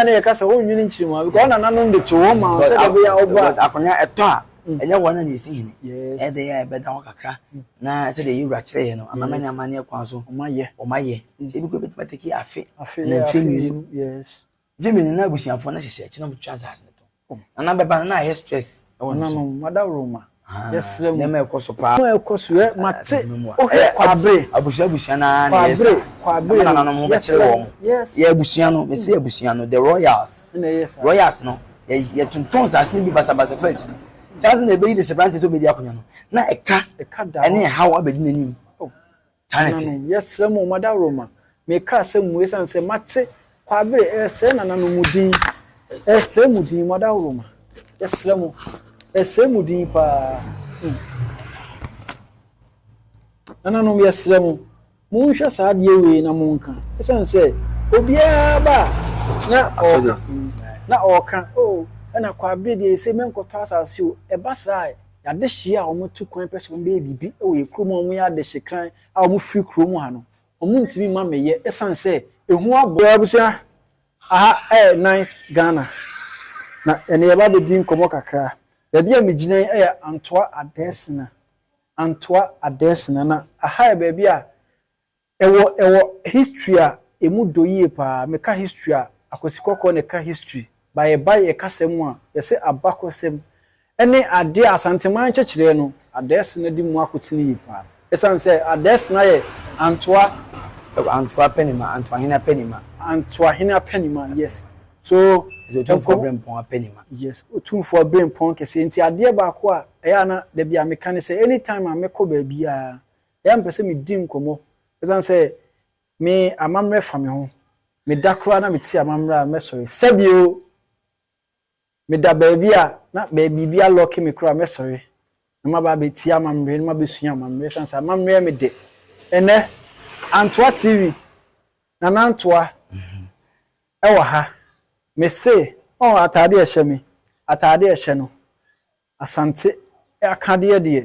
a na yɛka sɛ wonnwene nkyiri mu a because wɔn nananom de too wɔn ma wɔn sɛdeɛ ɛbɛyɛ a wɔba a. Akonnwa ɛtɔ a, mm. ɛnyɛ wɔn na na ɛsi hene. Ɛyɛ dɛ yɛ a ɛbɛda hɔ kakra mm. na sɛdeɛ yɛwura kyerɛ yɛ no amamanya amanneɛ kwan so wɔn ayɛ. Wɔn ayɛ. Mm. Sɛ ebi kɔ ebɛtumi atɛki afe na mfe mmienu. Mfe mmienu na abusuafoɔ no hyehyɛ akyi na wɔtwa nsaase no to. Oh. Nana bɛba no na ayɛ stress ɛwɔ ne so. Nananom madaworo ma yɛsrɛ mu. Nneɛma ɛkɔ so paa. Nneɛma ɛkɔ so yɛ mate ohwɛ kwabre. Abusua abusua na na yɛ sa. Kwabre na nananom bɛ kyerɛ wɔn. Yes. Yɛ abusua no mesi abusua no the royals. Ɛna yɛ sa. Royals no yɛ yɛ tontɔn saase no bi basa basa fɛ akyiri. Saase na ebeyi de hyɛ branteɛ sɛ obedi akonya no na ɛka ɛka da hɔ. Ɛne ɛhaw abedi n'anim. Oh. Nananom, yɛsrɛ mo mma daworo ma. Meka asɛm mu esiane sɛ mate Kwabere resrɛ nananom mu din, resrɛ mo din, mma daworo ma. Yɛsrɛ mo, yɛsrɛ mo din paa. Hmm. Nananom, yɛsrɛ mo, monhwɛ saa adeɛ wei na monka. Esiane sɛ obiara ba na ɔka, na ɔka, oh, ɛna Kwabere deɛ ɛsɛ mɛnkɔtɔ asase o, ɛba saa N'adehye a wɔtu kwan pɛ sɛ wɔbɛyɛ biribi wɔ yɛn kurom a wɔyɛ adehyekran a wɔfiri kurom ha no, wɔntumi mma meyɛ ɛsiane sɛ ehu abɔ. Yɛwɔ abusua aha ɛyɛ Nice Ghana na ɛnɛ yɛreba abɛdi nkɔmmɔ kakra. Baabi a megyina yi yɛ Antoa Adɛɛsena, Antoa Adɛɛsena, na aha yɛ baabi a Ɛwɔ ɛwɔ history a ɛmu dɔ yie paa me ka history a akwasi kɔkɔɔ na ɛka history ba yɛ ba yɛ kasa mu a yɛ se abakɔsɛm ɛne adeɛ a asanteman nkyɛkyerɛɛ no adɛɛsena de mu akotene yie paa ɛsane sɛ adɛɛsena yɛ antoa Antoa Pɛnima Antoahene Apɛnima. Antoahene Apɛnima yes so Ɛsɛ Otumfoɔ nkɔm Berempɔn Apɛnima. yes Otumfoɔ Berempɔn kɛseɛ nti adeɛ baako a ɛyɛ a na dabi a me ka ne sɛ any time a mɛkɔ baabiara Ɛyɛ a mepɛ sɛ medi nkɔmmɔ. Esiane sɛ me amammerɛ fa me ho, meda koraa na mete amammerɛ a mɛsɔre. Sɛbi o! Meda baabi a na bɛ biribi alɔke me koraa a mɛsɔre na maba abɛtie amammerɛ na mabɛsua amammerɛ esiane sɛ amammerɛ yɛ me dɛ. Ɛnnɛ, Antoa TV, Nana Antoa wɔ ha. Mese, ɔɔ, ataade a ɛhyɛ me, ataade a ɛhyɛ no, Asante akadeɛ deɛ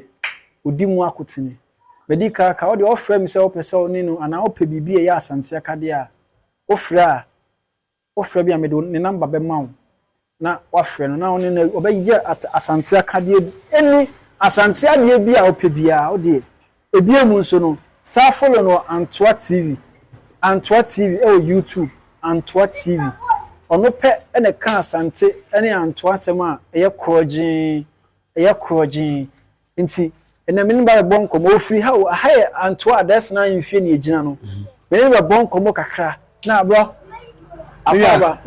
ɔdi mu akotene. Badi Kaka, wo deɛ ɔfrɛ me sɛ wopɛ sɛ wo ne no anaa wopɛ biribi a ɛyɛ Asante akadeɛ a, wo frɛ a, wo frɛ me a mede ne number bɛma wo na woafrɛ no na wo ne no ɔbɛyɛ Asante akadeɛ bi, ɛni Asante adeɛ bi a wopɛ biara wo deɛ Bio mu nso no, saa follow no Antoa TV, Antoa TV wɔ YouTube, Antoa TV. Ɔno pɛ na ɛka Asante ne Antoa nsɛm a ɛyɛ korɔgyee, ɛyɛ korɔgyee. Nti, ɛnnɛ me ne no ba bɛbɔ nkɔmmɔ. Ɔfiri ha o, ha yɛ Antoa Adaɛsena ahemfie na yɛgyina no. Me ne no bɛbɔ nkɔmmɔ kakra. Na bɔ. Mia.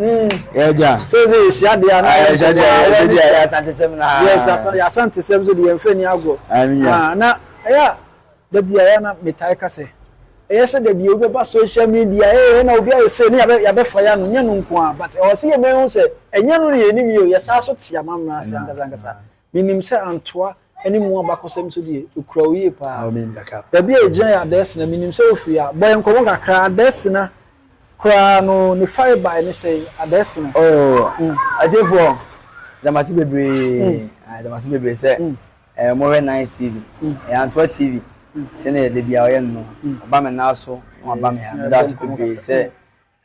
Yɛgya. Sese yɛhyia deɛ na yɛn nkɔmɔ a yɛn ani sɛ. Yɛasantesɛm na. Yes asa yɛasantesɛm so deɛ yɛnfɛ ni agorɔ. Amia. Na ɛyɛ a dabi a yɛ na metae ka sɛ ɛyɛ sɛ dabi a wobɛba social media ee na obi ayɛ sei ne yɛabɛ yɛabɛfa yɛ ano nyɛ no nko a but ɛwɔ sɛ yɛbɛhu sɛ ɛnyɛ no na yɛnim yɛ o yɛsaa so te amammerɛ ase ankasa ankasa. Menim sɛ Antoa ne mu abakɔsɛm nso deɛ, ɛkura wo yie pa ara. Baabi a ɛgyina yɛ Adɛsena. Menim sɛ wofiri ha. Bɔ yɛn nkɔmmɔ kakra. Adɛsena koraa no, ne farebae ne sɛn? Adɛsena. Oh, atiefoɔ, yɛda mo ase bebree. Ah, yɛda mo ase bebree sɛ mohwɛ Nice TV. Ɛyɛ Antoa TV. Sɛdeɛ da biara ɔyɛ no no, ɔba me nan so na waba me ha. Meda ase bebree sɛ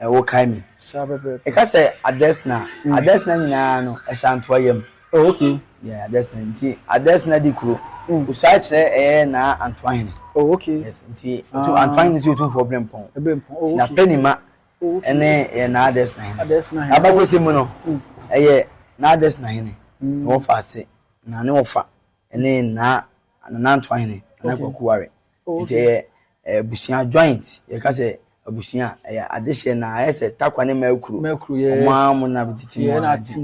Eh, wokae me. Saa pɛpɛɛpɛ. Yɛka sɛ Adesina a, Adesina nyinaa no, Ashantoa yam. Oh, okay. Yeah, Adesina. Nti Adesina di kuro. Osuae kyerɛ ɛyɛ Naa Antoahene. Oh, okay. Yes, nti Otu, Antoahene nso yɛ Otumfoɔ Berempɔn. Berempɔn, oh, okay. Nti n'apɛnima ɛne yɛ Naa Adesina Hene. Adesina Hene. N'abakɔsɛm mu no, ɛyɛ Naa Adesina Hene na wɔfa ase, na ne wɔfa ɛne Naa Nana Antoahene, Nana Kwaku Ware. Nti ɛyɛ abusua joint yɛka sɛ abusua ɛyɛ adehyeɛ na ayɛ sɛ takwa ne mɛkuro ɔmo ara mo na bɛtete mu ara nti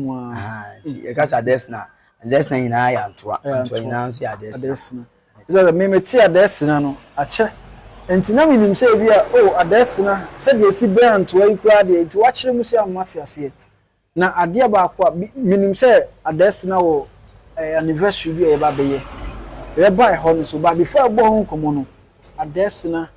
nti yɛka sɛ adɛsena adɛsena nyinaa yɛ antoa antoa nyinaa nso yɛ adɛsena. Sɛ me mete adɛsena no akyɛ nti na menim sɛ ebi a oh adɛsena sɛdeɛ esi bɛn antoa yi koraa deɛ nti wakyerɛ mu sei a mate aseɛ Na adeɛ baako a menim sɛ Adaasina wɔ anniversary bi a yɛba bɛyɛ. Yɛba ɛhɔ no so but before yɛbɔ ho nkɔmmɔ no Adaasina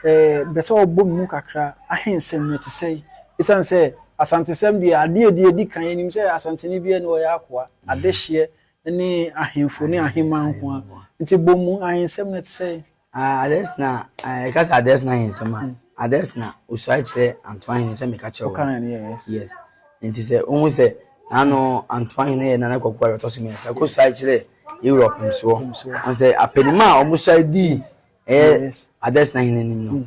pɛ sɛ ɔbɔ me mu kakra Ahensɛm no ɛte sɛn? Ɛsiane sɛ Asantesɛm deɛ adeɛ a ɛdi kan yɛnim sɛ Asanteni biara nni hɔ a ɔyɛ akoa, adehyeɛ ne ahemfo ne ahemaa nko ara nti bɔ mu ahensɛm no ɛte sɛn? A Adesina, a yɛka sɛ Adesina yɛ nsɛm a, Adesina osuae kyerɛ Antoa Hene sɛ meka kyerɛ Wokaa wɔn. yɛ, yes. Yes. Nti sɛ wohu sɛ n'ano Antoa Hene yɛ Nana Kwaku Aare ɔtɔ so mmiɛnsa kɔsuae kyerɛ Europe nsoɔ. Nsoɔ. Ɔn sɛ apanim a wɔsuae dii ɛyɛ Yes. Adesina Hene anim no,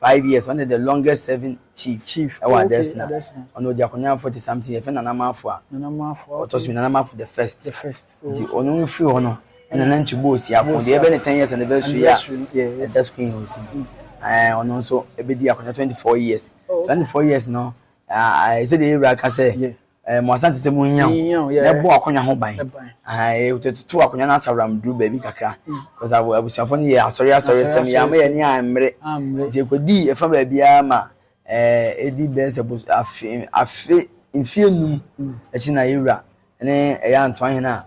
Five years ɔne the longest serving chief ɛwɔ adɛsena ɔne ɔdi akonya forty something yɛfɛ nana maafo a ɔtɔ so nana maafo the first nti ɔno no firi hɔ no ɛna na nti bɔɔ si ako deɛ ɛbɛ ne ten years anniversary a ɛda school yɛ osi ɛɛ ɔno nso ɛbɛdi akonya twenty four years twenty four years no ɛsɛ deɛ yɛwura ka sɛ Eh, mo asante sɛ monnya ho na ɛbɔ akonnwa ho ban ɛtoto eh, akonnwa no asaworam duru baabi kakra mm. bcause abusuafoɔ no yɛ asɔre asɔre sɛm yɛ ama yɛne ammere nti ɛkɔdii ɛfa baabiaa ma ɛdi eh, bɛɛ sɛ afe afe mfie num mm. akyi na yɛwura ne ɛyɛ antoa hene a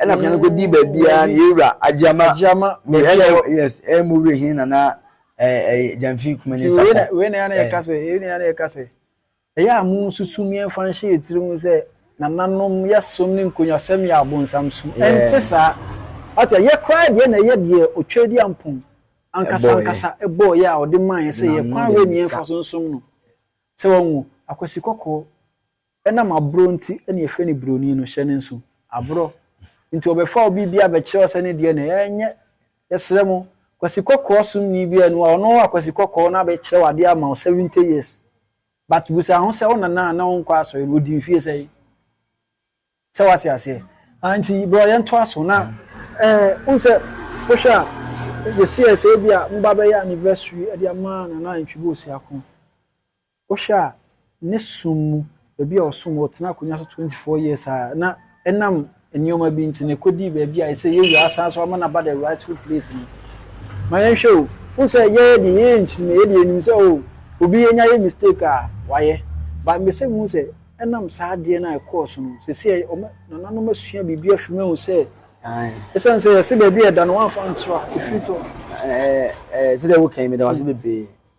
Ɛna akonnwa no kɔdi baabiara na yɛwura Agyama. Agyama baabi a ɛwɔ. Yes, ɛyɛ mu wura he nana Gyamfi Kumani Sapɔ. Nti wei na yɛne yɛka sɛ, wei na yɛne yɛka sɛ, ɛyɛ a monsusu mu yɛmfa nhyɛ yɛ tiri mu sɛ nananom yɛ som ne nkonyasɛm yɛ abonsam som. Ɛnte saa. Wate a, yɛ koraa deɛ na ɛyɛ deɛ Otwadi Ampong ankasa ankasa bɔɔ yɛ a ɔde maa yɛ sɛ yɛ kwan wei na yɛmfa so nsom no. Sɛ wahu Akwasi Kɔkɔɔ. Ɛnam aborɔ nti na yɛfrɛ no buroni no, hyɛ no nso. Aborɔ. Nti wɔbɛfa obi bi abɛkyerɛ wo sɛ ne deɛ na ɛyɛ. Ɛnyɛ. Yɛsrɛ mo. Kwasi Kɔkɔɔ somni bi a ɛno a, ɔno a Kwasi Kɔkɔɔ no abɛkyerɛ wo adeɛ ama wo seventy years. But bisa ho sɛ wo nana a na ɔnkɔ asɔre no, ɔdi mfeɛ sɛn? Sɛ woate aseɛ? Ah, nti bro yɛntoa so na. Eh, wohu sɛ, wohwɛ a, yɛsiee sɛ ebia moba bɛyɛ anniversary de ama Nana Antwi Boseako. Wohwɛ a ne som mu, baabi a ɔsom wɔ, ɔtenaa akonnwa so twenty four years a na ɛnam nneɛma bi nti na ɛkɔdii baabi a ɛsɛ yɛwura asan so ama no aba the rightful place no. Ma yɛnhwɛ o, wohu sɛ yɛn deɛ yɛyɛ nkyirimɛ, yɛn deɛ yɛnim sɛ oh obi yɛnya yɛ mistake a wayɛ but mepɛsɛ muhu sɛ ɛnam saa adeɛ no a ɛkɔɔ so no seesei wɔn nananom asua biribi afiri mu ahu sɛ ɛsiane sɛ yɛse baabi a ɛda no wɔamfa antra ɛfiri tɔ. Ɛɛ, ɛɛ, sɛdeɛ woka yi, meda wo ase bebree.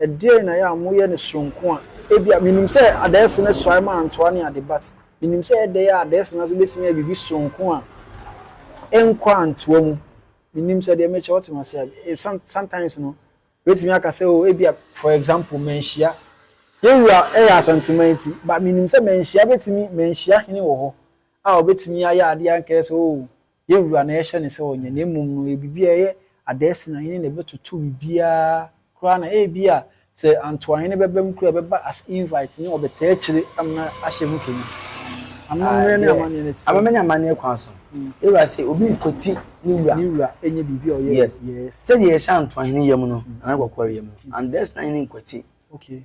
Ɛdeɛn na ɛyɛ a moyɛ no sononko a ebia menim sɛ Adaɛse no suae maa ntoa ne ade but menim sɛ ɛyɛ dɛn a Adaɛse no nso bɛtumi ayɛ biribi sononko a ɛnkɔ antoa mu. Menim sɛ deɛ mekyɛ wote m'ase a eh some sometimes no bɛtumi aka sɛ oh ebia for example Manhyia yɛn wura ɛyɛ Asanteman ti but menim sɛ Manhyia bɛtumi Manhyia hene wɔ hɔ a ɔbɛtumi ayɛ adeɛ a nka ɛyɛ sɛ oh Yɛ wura na yɛhyɛ no sɛ ɔnyɛ, na mmom no ɔyɛ biribi a ɛyɛ Adaɛse na hene na ɛbɛtoto biribiara koraa na ebia sɛ Antoahene bɛba mu koraa a ɛbɛba as invite ne ɔbɛtaa akyire amena ahyɛ mu kɛnyi. Amammerɛ ne amanneɛ no te sɛn? Amammerɛ ne amanneɛ kwan so. Yɛ wura se obi nkwati ne wura. Ne wura nyɛ biribi a ɔyɛ. Yes. Yes. Sɛdeɛ yɛhyɛ Antoahene yam no na na kɔkɔre yam no, Adaɛse na hene nkwati. Okay.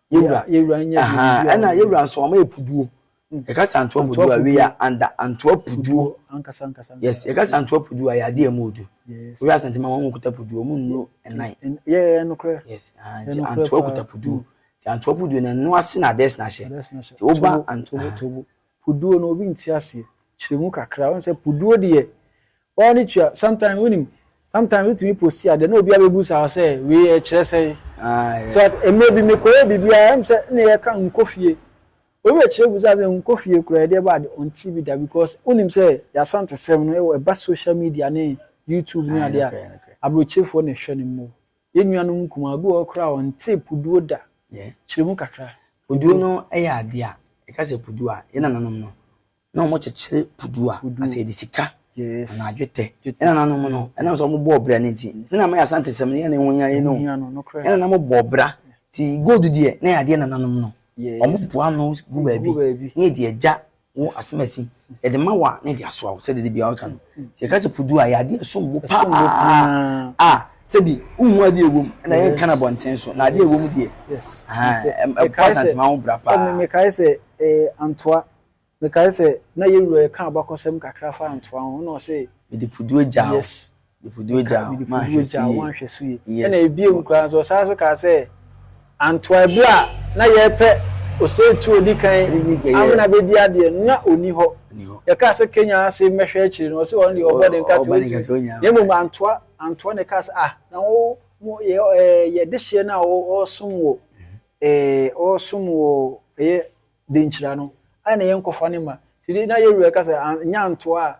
Yewura, yewura nyɛ deɛ obi a Ɛna yewura nso wɔn ayɛ puduo. Mm. Yɛka sɛ antoa puduo a, we are under antoa puduo. Ankasa ankasa. Yes, yɛka sɛ antoa puduo a, yɛ adeɛ a ɛmu odu. Yes. Wohwɛ asantema wɔn mu kuta puduo, wɔn nnuro nnan. Yɛ yɛ nokorɛ. Yes, ah, nti antoa kuta puduo. Nti antoa puduo na ɛno ase na adeɛ na ahyɛ. Nti woba antoa. Puduo no obi nte aseɛ, kyerɛ mu kakra. Wohu sɛ puduo deɛ woara ne tua, sometimes wonim, sometimes wotumi posti adeɛ na obi abɛbusa wo sɛ wei ɛkyerɛ sɛn. So ate, mmerɛ bi mekɔyɛɛ biribi a ɛm sɛ na yɛka nkɔ fie, obi bɛkyerɛ busaa me sɛ nkɔ fie koraa ɛdeɛ ɛba a deɛ ɔntee bi da because wonim sɛ y'Asantesɛm no ɛwɔ, ɛba social media ne YouTube ne adeɛ a abrokyefoɔ na ɛhwɛ no more. Yɛn nuanom nkumaa, obi wɔ hɔ koraa a ɔntee Puduo da? Kyerɛ mu kakra. Puduo no yɛ adeɛ a, yɛka sɛ Puduo a, yɛn nananom no, na wɔkyekyere Puduo a, na sɛ yɛde sika anaa dwetɛ. Yɛn nananom no, ɛnam sɛ wɔbɔɔ bra no nti, sɛdeɛ na ama yɛn Asantesɛm no yɛ na ɛho hia yɛn no, yɛn nananom bɔɔ bra. Nti gold deɛ, na ɛyɛ adeɛ nananom no, wɔboa ano gu baabi, na yɛde agya Wo asem asi yɛde ma wo a na yɛde asoa wo sɛde da biara woka no. Sɛ yɛka sɛ pudu a ɛyɛ adeɛ a ɛsom bo paa a sɛbi wonhu adeɛ a ɛwɔ mu na yɛnka no abɔnten so na adeɛ a ɛwɔ mu deɛ ɛboa Asantema ho bra paa. Mekae sɛ Antoa, mekae sɛ na yɛn wura yɛka abakɔsɛm kakra fa Antoa ho na ɔse. Mede pudu agya wo. Yes. Mifudie ogya a woanhwɛ so yie. Ɛna ebio mu koraa nso, ɔsan nso kaa sɛ, Antoa bere a na yɛrepɛ osetie a odi kan amena bedi adeɛ no, na onni hɔ. Yɛkaa sɛ Kenya ase mmɛhwɛ akyiri no, ɔse ɔno deɛ ɔbɔ den ka sɛ ontumi. Na mmom Antoa, Antoa na ɛkaa sɛ, Ah, na wo, mo, yɛ, ɛɛ, yɛ dehyeɛ no a ɔ, ɔresom wɔ, ɛɛ, ɔresom wɔ, ɛyɛ, Denkyira no, ayɛ na yɛnkɔfa no mma. Nti de, na yɛn wura ka sɛ, An, nyɛ Antoa a,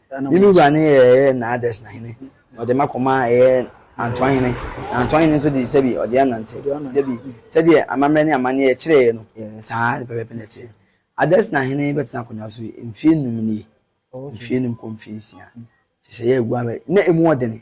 Mimi wura ne yɛ ɛyɛ Naadɛsna hene, na ɔde m'akoma ɛyɛ Antoa hene, na Antoa hene nso de sɛbi ɔde anante sɛbi, sɛdeɛ amammerɛ ne amanneɛ kyerɛeɛ no, saa ara pɛpɛɛpɛ na ɛteɛ. Adɛsna hene bɛtena akonnwa so mfeɛ nnum nie, mfeɛ nnum kɔ mfeɛ nsia, nhyehyɛeɛ a ɛgu aba yi, na emu wɔ dene.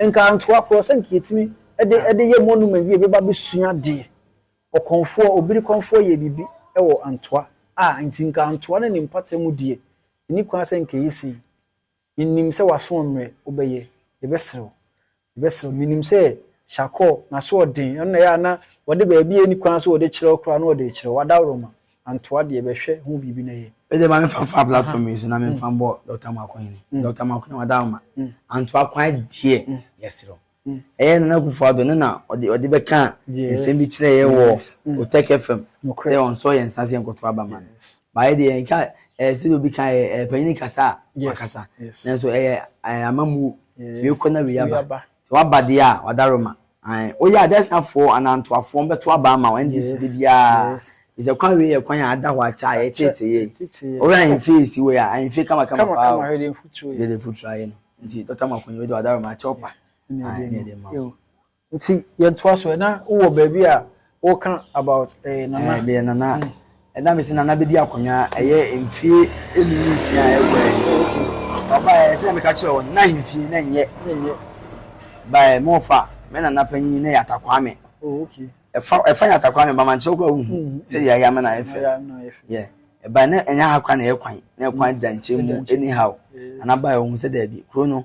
Nka ntoa korɔ sɛ nka yɛtumi de de yɛ monument bi a obi ba bɛsua adeɛ. Ɔkɔmfoɔ, obiri kɔmfoɔ yɛɛ biribi wɔ antoa a nti nka antoa ne ne mpata mu deɛ ɛnni kwan sɛ nka ɛyɛ sei. Menim sɛ w'aso ɔmmerɛ, wobɛyɛ, yɛbɛsrɛ wo, yɛbɛsrɛ wo. Menim sɛ Shakor n'aso ɔden, ɛno na ɛyɛ a na wɔde baabi a ɛnni kwan sɛ wɔde kyerɛ wo koraa na wɔde rekyerɛ wo, w'adaworoma. Antoa deɛ bɛhwɛ ho biribi na yɛ. Medeɛ ma memfa mfa platform yi so na memfa mbɔ Dɔkta Mako Hene. Dɔkta Mako Hene wada wo ma. Antoa kwan deɛ yɛserɛ wo. Ɛyɛ Nana Akufo Addo no na ɔde ɔde bɛkaa nsɛm bi kyerɛɛ yɛ wɔ Otech FM sɛ ɔnsɔ yɛn nsa sɛ yɛnkɔto aba ma no. But yɛ deɛ yɛnka ɛɛ sɛdeɛ obi ka ɛɛ ɛɛ panyini kasa a wakasa. Nanso ɛyɛ ɛɛ amammuo. Wei kɔ na wei aba. Sɛ waba deɛ a wada wo ma. Ae woyɛ a Dɛsnafoɔ anaa Ntoafoɔ no bɛto aba ama wo NDC da biara firi sɛ kwan wei yɛ kwan a ada hɔ akyɛ a yɛtetee yei. Wohwɛ ahemfie a ɛsi wei a, ahemfie kamakama paa o. Hwɛ deɛ mfuturo yɛ. Deɛ mfuturo ayɛ no. Nti Dɔkta Makonye wei deɛ w'adaworoma akyɛ wo pa. Ae ne yɛde ma wo. Nti yɛntoa so ɛ. Na wowɔ baabi a Wo ka about eh nana. Eh deɛ nana ɛda me se nana bɛdi akonnwa ɛyɛ mfie ɛnum ne nsia a ɛkɔ ɛyi ɔba ɛyɛ sɛ na meka kyerɛ wɔn na ahemfie na nyɛ ba ɛ mo fa mɛ nana panyin na yɛ atakwaa me oh, okay. ɛfa ɛfa yɛ atakwaa me ba ma nkyerɛ kɔ ahu sɛ deɛ ayɛ ama na ayɛ fɛ yɛ ɛba na ɛnyɛ ha kwan na ɛyɛ kwan na ɛkwan da nkyɛn mu anyhow nana ba ɛ ohun sɛ dɛbi kuro no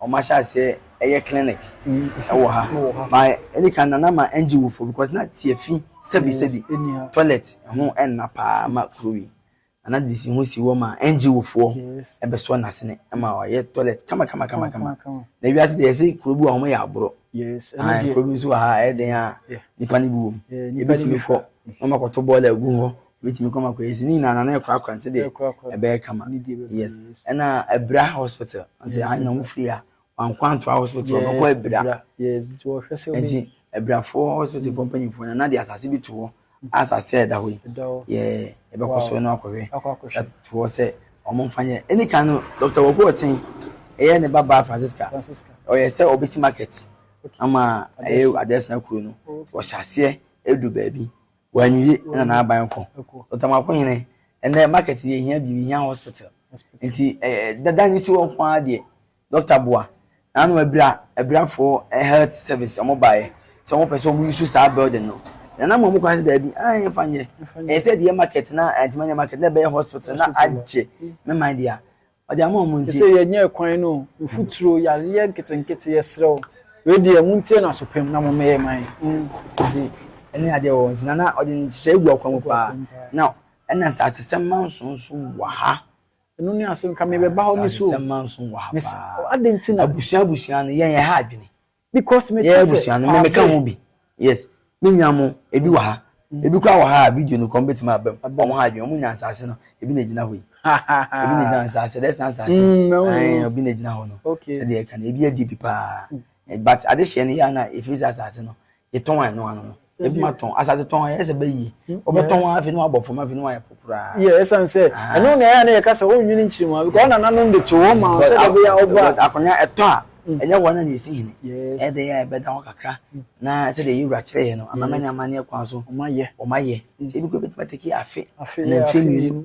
Wɔahyɛ aseɛ yɛ clinic wɔ ha but ɛdi kan no na ma ɛngye wofo because na tiafi sɛbi sɛbi toilet ho ɛnna paa ma kuro yi na na DC ho si hɔ ma ɛngye wofoɔ ɛbɛsɔ n'asene ɛma wayɛ toilet kama kama kama kama na ewiase deɛ yɛse kuro bi wɔ ha wɔyɛ aborɔ ae kuro bi nso wɔ ha ɛyɛ dɛn a nipa no bi wɔ mu yɛbɛtumi kɔ na wɔakɔto bɔɔla agu hɔ Mɛtumi kɔ ma kɔ yɛ si ni na na na ɛkura kura nti de ɛbɛyɛ kama yes ɛna ɛbira hospital nti ha na wɔn firi ha wɔn kɔ antoa hospital wɔn kɔ ɛbira nti ɛbirafo hospital fo mpanyinfoɔ na na de asase bi to hɔ asase a ɛda hɔ yi yɛ ɛbɛkɔ so na wakɔ hwɛ to hɔ sɛ wɔn nfa nyɛ ɛni kan no dɔkta wɔ kɔ ɔten ɛyɛ ne ba ba Francisca ɔyɛ sɛ ɔbɛsi market ama ɛyɛ adeɛ sena kuro no wɔhyɛ aseɛ edu baabi. Wanwie na n'aban kɔ. Otamako hene, ɛnɛ market deɛ ehia biribi, ehia hospital. Nti eh, dada ne si hɔ nko ara deɛ, doctor boa. Na ano abira, abirafoɔ eh, health service wɔn baeɛ sɛ wɔn pɛ sɛ wɔn use saa building no. Na na mmoa mu kwan sɛ daabi, ah yɛn fa nyɛ. Ɛyɛ sɛ deɛ market na antumi anyɛ market na ɛbɛyɛ hospital na agye me man deɛ a, Ɔde ama wɔn nti. Sɛ yɛnyɛ ɛkwan no o, mfuturo, yareɛ nketenkete, yɛsrɛ wo, wei deɛ montie no asopem na mommɛyɛ mma yɛn. Nti ɛne adeɛ wɔ hɔ nti na na ɔde nhyehyɛeɛ gu akwan mu paa. Na ɛna Nsasesɛm manso nso wɔ ha. Ɛno ne asɛm, nka mebɛba hɔ ne so o. Nsasesɛm manso wɔ ha paa. Adɛn nti na. Abusua abusua no, yɛn yɛha adwene. because me te sɛ no me ka ho bi yes me nua mo ebi wɔ ha mm. ebi kura wɔ ha video no kɔn betumi abam wɔn ha adwene wɔn nya nsaase no ebi na egyina hɔ yi ebi na egyina nsaase dɛs na nsaase mm, ɛn obi na egyina hɔ no sɛdeɛ ɛka no ebi adi bi paa mm. eh, but ade hyɛ no yɛ ana efiri sɛ asaase no yɛtɔn ano ano no ebi ma tɔn asase tɔn ayɛ sɛ bɛyi wɔbɛtɔn wɔn afei na wɔabɔ fam afei na wɔayɛ po koraa. yɛ ɛsan sɛ ɛno na ɛyɛ a na yɛka sɛ wɔnwene nkyiri mu a because wɔn nananom de to wɔn ma wɔn sɛ dɛ bɛyɛ a ɔba a. akonnwa ɛtɔ a ɛnyɛ wɔn na na esi hene ɛyɛ dɛ yɛ a ɛbɛda hɔ kakra na sɛdeɛ yɛ wura kyerɛ yɛ no amama ne amanneɛ kwan so wɔn ayɛ sɛ ebi kura ebɛtumi atake afe ɛna mfie mmienu.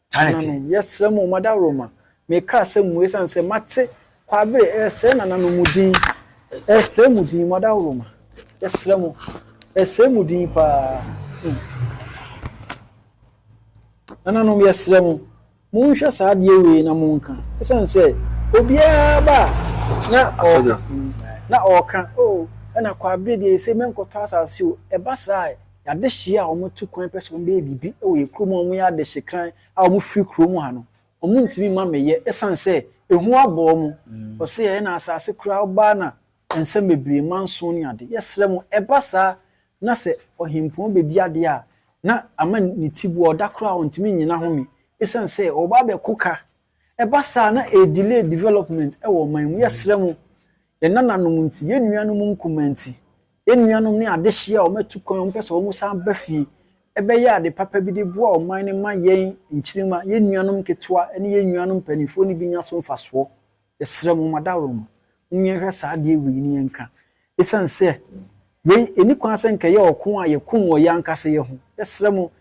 Nananom, Tanete. yɛsrɛ mo mma dawuroma. Meka asɛm mu esiane sɛ mate Kwaabere resrɛ nananom mu din, resrɛ mo din, mma dawuroma. Yɛsrɛ mo, yɛsrɛ mo din paa. Hmm. Nananom, yɛsrɛ mo, monhwɛ saa adeɛ wei na monka. Esiane sɛ obiara ba a na Asɔgye. ɔka, hmm, na ɔka, oh, ɛna Kwaabere deɛ yɛsɛ mɛnkɔtɔ asase o. Ɛba saa a, Yɛn adehye a wɔtu kwan pɛ sɛ wɔbɛyɛ biribi wɔ yɛn kurom a wɔyɛ adehye kran a wɔfiri kurom ha no, wɔntumi mma meyɛ ɛsiane sɛ ehu abɔ wɔn. Wɔse yɛyɛ no asase koraa wobaa na nsɛm bebree, manson ne ade. Yɛsrɛ mo, ɛba saa na sɛ ɔhempɔn bɛdi adeɛ a, na ama ne tiboa, ɔda koraa a ɔntumi nnyina home ɛsiane sɛ wɔba abɛko ka. Ɛba saa a na ɛdelay development wɔ ɔman mu. Yɛsrɛ mo, yɛn nananom nti, yɛn nuanom nkumaa nti, Yɛn nuanom ne adehye a wɔatu kwan a wɔpɛ sɛ wɔsan ba fie bɛyɛ ade papa bi de boa ɔman no ma yɛn nkyirimma, yɛn nuanom nketewa ne yɛn nuanom mpanyimfo no bi nya so mfasoɔ. Yɛsrɛ mo, mo adaworoma, momma yɛnhwɛ saa adeɛ wei na yɛnka. Esiane sɛ wei nni kwan sɛ anka ɛyɛ ɔko a yɛko wɔ yɛn ankasa yɛn ho. Yɛsrɛ mo,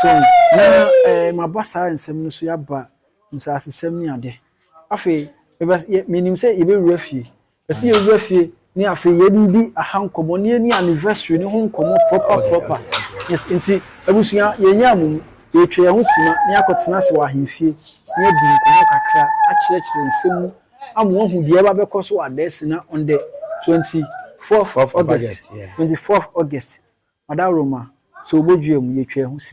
So na ɛɛ maba saa nsɛm no so yi aba nsaasesɛm ne ade. Afei meba yɛ menim sɛ yɛbɛwura fie. Yɛse yɛwura fie ne afei yɛdi aha nkɔmmɔ ne yɛni anniversary no ho nkɔmmɔ proper proper. Yes nti abusua yɛnyaa mo mu yɛtwa yɛn ho sima ne yɛakɔtena ase wɔ ahemfie ne yɛadi nkɔmmɔ kakra akyerɛkyerɛ nsɛm mu ama wɔahu deɛ ɛba bɛkɔ so wɔ Adaasi na on the twenty fourth August, twenty fourth August, Madaworo ma, sɛ wɔbɔ dua mu, yɛtwa ho sini.